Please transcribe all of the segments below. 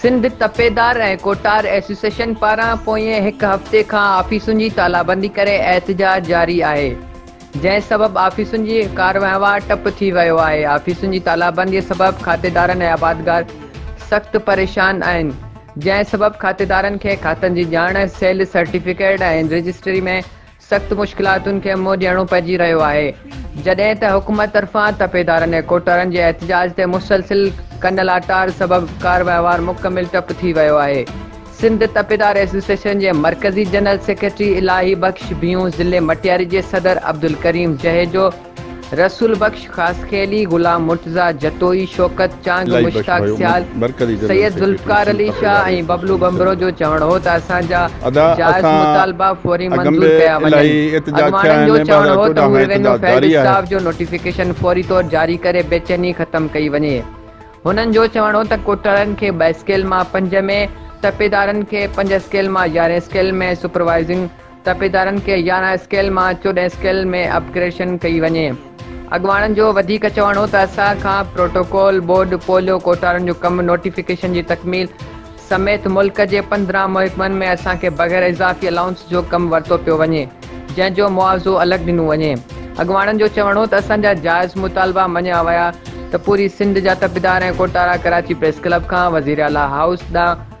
سنڌ تپيدار ۽ ڪوٽار ايسوسيئشن پاران پوئين هڪ هفتي کان آفيسن جي تالابندي ڪري احتجاج جاري آهي جنهن سبب آفيسن جي ڪار وهنوار ٽپ ٿي ويو آهي آفيسن جي تالابندي سبب کاتيدارن ۽ آبادگار سخت پريشان آهن جنهن سبب کاتيدارن کي کاتن جي ڄاڻ سيلز سرٽيفڪيٽ ۽ رجسٽري ۾ سخت مشڪلاتن کي منهن ڏيڻو پئجي رهيو آهي، جڏهن ته حڪومت طرفان تپيدارن ۽ ڪوٽوارن جي احتجاج تي مسلسل ڪن لاٽار سبب ڪار وهنوار مڪمل ٽپ ٿي ويو آهي. سنڌ تپيدار ايسوسيئيشن جي مرڪزي جنرل سيڪريٽري الاهي بخش ڀيون ضلعي مٽياري جي صدر عبدالڪريم جهيجو، رسول بخش خاصخيلي، غلام مرتضيٰ جتوئي، شوڪت چانگ، مشتاق سيال، سيد ذوالفقار علي شاهه ۽ ببلو ٻنڀرو جو چوڻ هو ته اسان جا جائز مطالبا فوري منظور ڪيا وڃن. اڳواڻن جو چوڻ هو ته هو ريونيو فيلڊ اسٽاف جو نوٽيفڪيشن فوري طور جاري ڪري بيچيني ختم ڪئي وڃي. هنن جو چوڻ هو ته ڪوٽڙن کي ٻه اسڪيل مان پنج ۾، تپيدارن کي پنج اسڪيل مان يارهين اسڪيل ۾ سپروائيزنگ، تپيدارن کي يارهن اسڪيل مان چوڏهن اسڪيل ۾ اپ گريڊشن ڪئي وڃي. اڳواڻن جو وڌيڪ چوڻ هو ته اسان کان پروٽوڪول بورڊ پوليو ڪوٽارن جو ڪم نوٽيفڪيشن جي تڪميل سميت ملڪ جي پندرهن محڪمن ۾ اسان کي بغير اضافي الائونس جو ڪم ورتو پيو وڃي جنهن جو معاوضو الڳ ڏنو وڃي اڳواڻن جو چوڻ هو ته اسان جا جائز مطالبا مڃيا ويا ته پوري سنڌ جا تپيدار ۽ ڪوٽارا ڪراچي پريس ڪلب کان وزيراعليٰ هائوس ڏانهن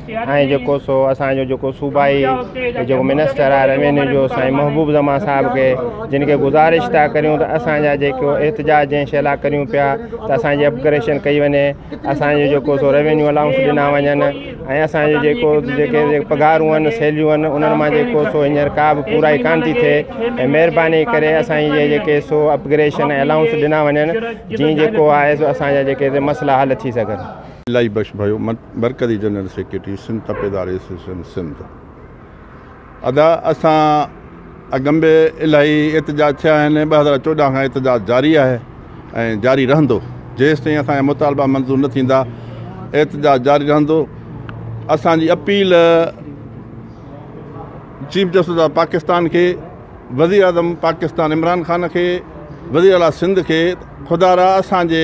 ۽ جيڪو سو اسان جو جيڪو صوبائي جيڪو منسٽر آهي روينيو جو سائين محبوب زمان صاحب کي جن کي گذارش ٿا ڪريون ته اسان جا جيڪو احتجاج جنهن شيء لاء ڪريون پيا ته اسان جي اپگريشن ڪئي وڃي اسان جو جيڪو سو روينيو الائونس ڏنا وڃن ۽ اسان جو جيڪو جيڪي پگهارون آهن سيلريون آهن انهن مان جيڪو سو هينئر ڪا به پورائي ڪانه ٿي ٿئي ۽ مهرباني ڪري اسان جي جيڪي سو اپگريشن ۽ الائونس ڏنا وڃن جيئن جيڪو آهي سو اسان جا جيڪي مسئلا حل ٿي سگهن الاهي بخش ڀيو مرڪزي جنرل سيڪريٽري سنڌ تپيدار ايسوسيئيشن سنڌ ادا اسان اڳم به الاهي احتجاج ٿيا آهن ٻه هزار چوڏهن کان احتجاج جاري آهي ۽ جاري رهندو جيس تائين اسان جا مطالبا منظور نه ٿيندا احتجاج جاري رهندو اسان جي appeal chief justice of Pakistan کي وزير اعظم پاڪستان عمران خان کي وزير اعلیٰ سنڌ کي خدا را اسانجي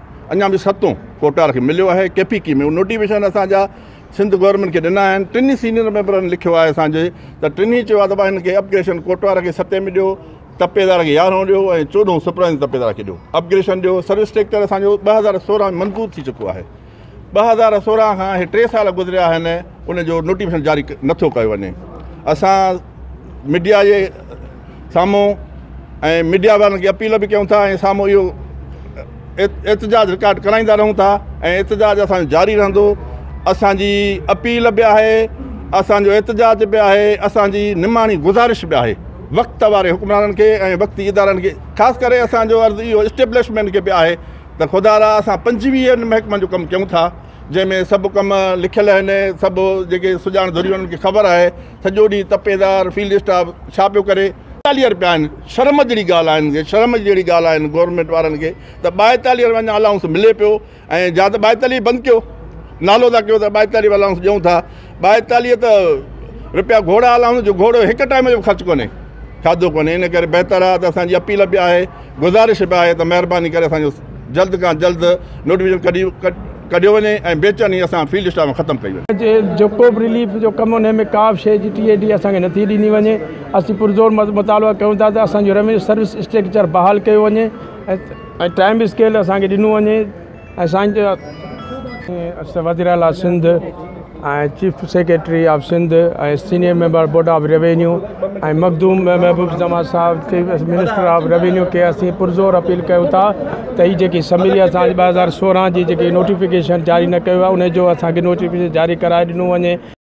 اڃا به ستون ڪوٽار کي مليو آهي ڪي پي ڪي ۾ نوٽيفڪيشن اسان جا سنڌ گورنمينٽ کي ڏنا آهن ٽنهي سينيئر ميمبرن لکيو آهي اسان جي ته ٽنهي چيو آهي ته بھن کي اپگريشن ڪوٽار کي ستين ۾ ڏيو تپيدار کي يارهون ڏيو ۽ چوڏهون سپرائز تپيدار کي ڏيو اپگريشن ڏيو سروس ٽيڪٽر اسان جو ٻه هزار سورهن ۾ منظور ٿي چڪو آهي ٻه هزار سورهن کان هي ٽي سال گذريا آهن ان جو نوٽيفڪيشن جاري نٿو ڪيو وڃي اسان ميڊيا جي سامهون ۽ ميڊيا وارن کي اپيل به ڪيون ٿا ۽ سامهون اهو احتجاج رڪارڊ ڪرائيندا رهون ٿا ۽ احتجاج اسانجو جاري رهندو اسانجي اپيل به آهي اسانجو احتجاج به آهي اسانجي نماڻي گذارش به آهي وقت واري حڪمرانن کي ۽ وقتي ادارن کي خاص ڪري اسانجو عرض اهو اسٽيبلشمينٽ کي به آهي ته خدا را اسان پنجويهن محڪمن جو ڪم ڪيون ٿا جنهن ۾ سڀ ڪم لکيل آهن سڀ جيڪي سڄاڻ ڌريون انهن کي خبر آهي سڄو ڏينهن تپيدار فيلڊ اسٽاف ڇا پيو ڪري ٻائيتاليهه رپيا آهن شرم جهڙي ڳالهه آهن کي شرم جهڙي ڳالهه آهن گورنمينٽ وارن کي ته ٻائيتاليهه رپيا اڃا الائونس ملي پيو ۽ جا ته ٻائيتاليهه بند ڪيو نالو ٿا ڪيو ته ٻائيتاليهه الائونس ڏيون ٿا ٻائيتاليهه ته رپيا گهوڙا الائونس جو گهوڙو هڪ ٽائيم جو خرچ ڪونهي کاڌو ڪونهي ان ڪري بهتر آهي ته اسان جي اپيل به آهي گذارش به آهي ته مهرباني ڪري اسان جو جلد کان جلد نوٽيفڪيشن ڪڍي ڪڍيو وڃي ۽ بي چيني اسان فيلڊ اسٽاف ۾ ختم ڪئي وڃي. جيڪو به رليف جو ڪم انهي ۾ ڪا به شيء جي ٽي اي ڊي اسان کي نٿي ڏني وڃي اسين پرزور مطالبا ڪيون ٿا ته اسان جو ريونيو سروس اسٽريڪچر بحال ڪيو وڃي ۽ ٽائيم اسڪيل اسان کي ڏنو وڃي. اسان جا وزير اعلٰي Sindh ۽ chief secretary of Sindh ۽ senior member board of revenue ۽ Makhdoom Mehboob Zaman صاحب چيف منسٽر آف روينيو کي اسين پرزور اپيل ڪيون ٿا ته هي جيڪي اسيمبلي اسان جي ٻه هزار سورهن جي جيڪي نوٽيفڪيشن جاري نه ڪيو ويو آهي ان جو اسان کي نوٽيفڪيشن جاري ڪرائي ڏنو وڃي